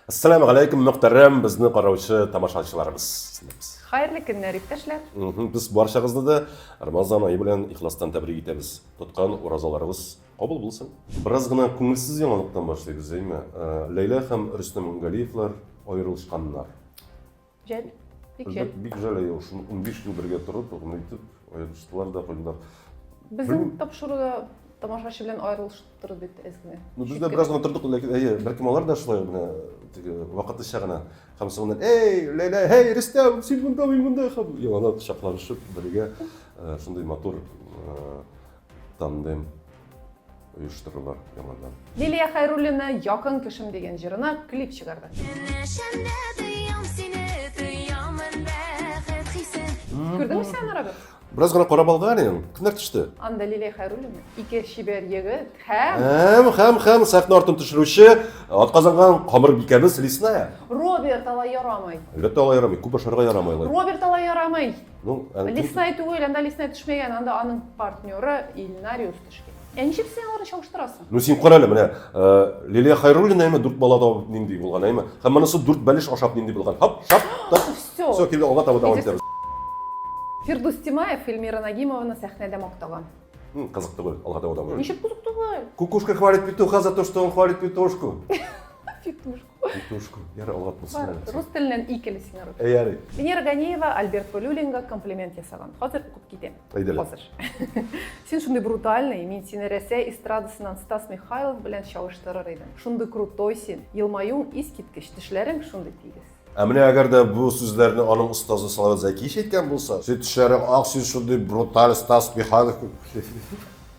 Ассаламу алейкум, мөхтәрәм безне караучы тамашачыларыбыз. Хәерле көннәр, иптәшләр. Без барчагызны да Рамазан ае белән ихластан тәбрик итәбез. Тоткан уразаларыгыз кабул булсын. Бераз гына күңелсез яңалыктан башлыйбыз, әйме? Ләйлә һәм Рөстәм Галиевлар аерылышканнар. Жәл, бик жәл. Бик жәл, әйе, шул 15 көн бергә торып, гомер итеп, аерылыштылар да куйдылар. Безнең тапшыруда тамашачы белән аерылыштыру бит әзме? Ну, без дә бераз гына тордык, ләкин, әйе, бәлкем алар да шулай гына, теге, вакытлыча гына. Һәм соңыннан, эй, Ләйлә, эй, Рөстәм, син монда, мин монда, һәм яланып, шакланышып, бергә шундый матур Тандем оештырыла яңадан. Лилия Хәйруллина Якын кешем дигән җырына клип чыгарды. Көнләшәмдә тоям сине, тоямын бәхет хисен. Күрдеңме син аны, Роберт? Бераз гына карап алган идем, күзләр төште. Анда Лилия Хәйруллина, ике чибәр егет һәм... Һәм, һәм, һәм сәхнә артын төшерүче атказанган камырбикәбез Лесная. Роберт, алай ярамый. Әлбәттә, алай ярамый, күп ашарга ярамый алай. Роберт, алай ярамый. Ну, ә Лесная түгел, анда лесная төшмәгән, анда аның партнеры Ильнариус төшкән. Ә ничек син аларны чагыштырасың? Ну син кара әле менә э, Лилия Хайруллина әйме дүрт бала табып нинди булган әйме. Һәм монысы дүрт бәлеш ашап нинди булган. Хап, шап, так. Все. Все, килде алга таба дәвам итәбез. Фирдус Тимаев Эльмира Нагимованы сәхнәдә мактаган. Кызык түгел, алга таба дәвам. Ничек кызык түгел? Кукушка хвалит петуха за то, что он хвалит петушку. Петушку. Петушку. Ярый, алга тотсын. Бар, әле. рус теленнән и кел син рус. Әй, ярый. Венера Ганеева Альберт Полюлинга комплимент ясаган. Хәзер укып китәм. Әйдәле. Хәзер. Син шундый брутальный, мин сине Рәсәй эстрадасыннан Стас Михайлов белән чагыштырыр идем. Шундый крутой син. Елмаюың искиткеч, тешләрең шундый тигез. Ә менә әгәр дә бу сүзләрне аның остазы Салават Зәкиев әйткән булса, син тешләрең ак, син шундый бруталь Стас Михайлов.